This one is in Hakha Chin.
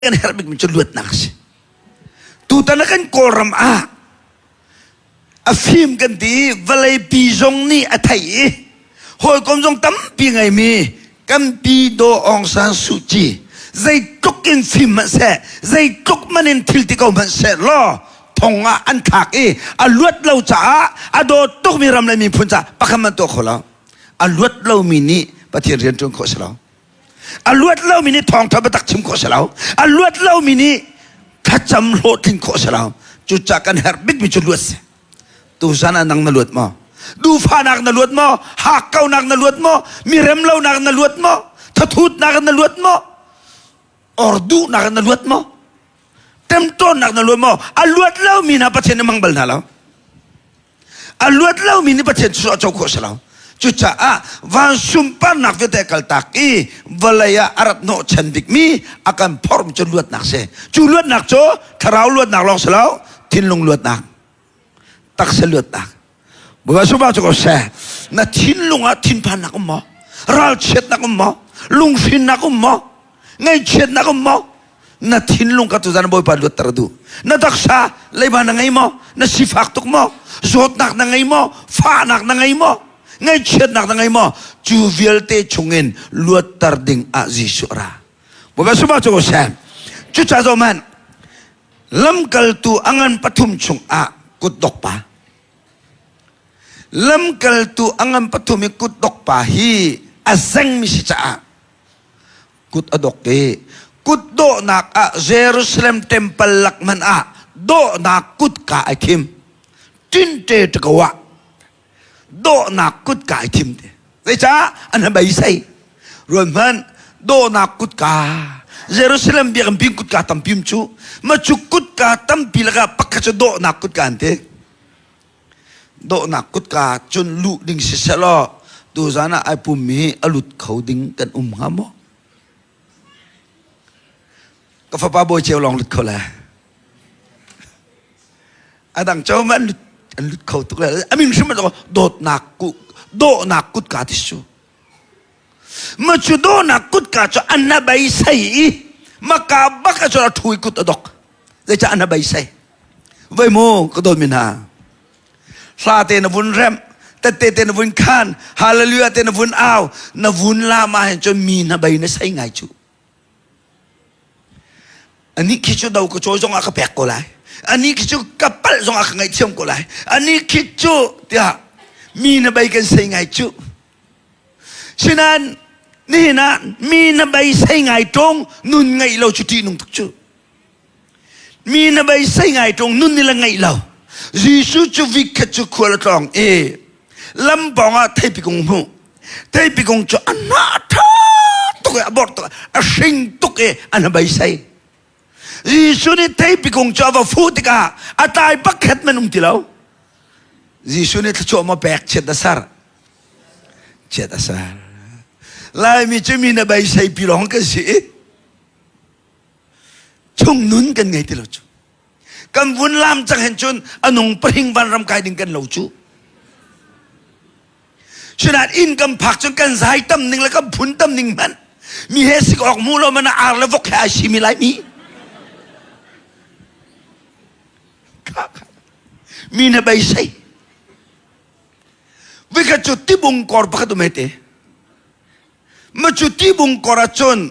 kan herh bikmi cu luatnak a si tutan a kan kawlram ah a fim kan ti vawlei pi zong nih a thei i hawikom zong tampi ngaimi kan pi daw ong san su ci zeitluk in fim hmanh seh zeitluk man in thil ti ko hmanh seh law thong ah an thlak i a luat lo caah a dawt tukmi ram le miphun caah pakhat man tuah kho lo a luat lomi nih pathian rian ṭuan khawh si lo a luat lomi nih thawngtha biatak chim khawh si lo a luat lomi nih thlacam hlawhtlin khawh si lo cucah kan herh bikmi cu luat si tuzan ah nang na luat maw duhfanak na luat maw hakkaunak na luat maw miremlonak na luat maw thathutnak na luat maw or duhnak na luat maw temtawnnak na luat maw a luat lomi hna pathian na mang bal hna lo a luat lomi nih Pathian cu a co khawh si lo cucaah van sunparnak vialte kaltak i vawlei ah a rat hnawh chan bikmi a kan phorm cu luatnak si cu luatnak cu thlarau luatnak lawng si lo thinlung luatnak taksa luatnak bawipa supa cu ko seh na thinlung ah thinphannak um maw ralchiatnak um maw lunghrinnak um maw ngaihchiatnak um mo na thinlung ka tuzan bawipa luatter du na taksa leiba na ngei mo na sifak tuk mo zawtnak na ngei mo fahnak na ngei mo ngaihchiatnak na ngei mo cu vialte chungin luatter ding ah Jesuh ra bawipa suma cu sem cu cha zo man lamkaltu angan pathum chung ah kut dok pa lamkaltu angan pathum i kut dok pa hi a zeng mi si caah Kut a dok i kut dawhnak ah Jerusalem temple lak hmanh ah dawhnak kutka ai thim tinte te ko ah dawhnak kutka ai thim te zeicah an han beisei ruanhman dawhnak kutka Jerusalem biakam pin kutka tampim cu macu kutka tampi lakah pakhat cu dawhnak kutka an ti Dawhnak kutka cun luh ding si selaw tuzan ah ai pummi a lut kho ding kan um hnga maw? Ka fapa bawi ceu lawng lut kho le. A dang ceu man an lut kho tuk le. A min hrim dawtnak ku dawhnak kutka ti su. Macudonak kutka cu an na beisei i maka bak a cun a ṭhui kut a dok. Zeicah an na beisei? Voi mu ka dawtmi hna. Hla te na vun rem, tette te na vun khan, hallelujah te na vun au, na vun lama hin cun mi na bei na sei ngai cu. Ani khi cu do ka cawi zong ah ka pek ko lai. Ani khi cu ka palh zong ah ka ngaihthiam ko lai. Ani khi cu tiah mi na bei kan sei ngai cu. Sinan nihin ah mi na beisei ngai ṭong nun ngeih lo cu ṭih nung tuk cu. Mi na beisei ngai ṭong nun ni la ngeih lo. Jesuh cu vikhet cu khual a tlawng i lampawng ah theipikung hmuh. Theipikung cu a na ṭha tuk i a bor tuk a hring tuk i an ha beisei. Jesuh nih theipi kung cu a va fuh tikah a tlai pakhat man um ti lo. Jesuh nih thluachuah maw pek chiat a ser. Chiat a ser. Laimi cu mi na beisei pi lawng kan si i chung nun kan ngei ti lo cu. Kan vun lam cang hen cun anung pahing van ram kai ding kan lo cu. Sinain inn kan phak cu kan zai tam ning le kan phun tam ning hmanh mi he sik awk mu lo mana ar le vok he ai si mi lai mi mi na bei sei vika cu tibung kor pakhat um hete ma cu tibung kor ah cun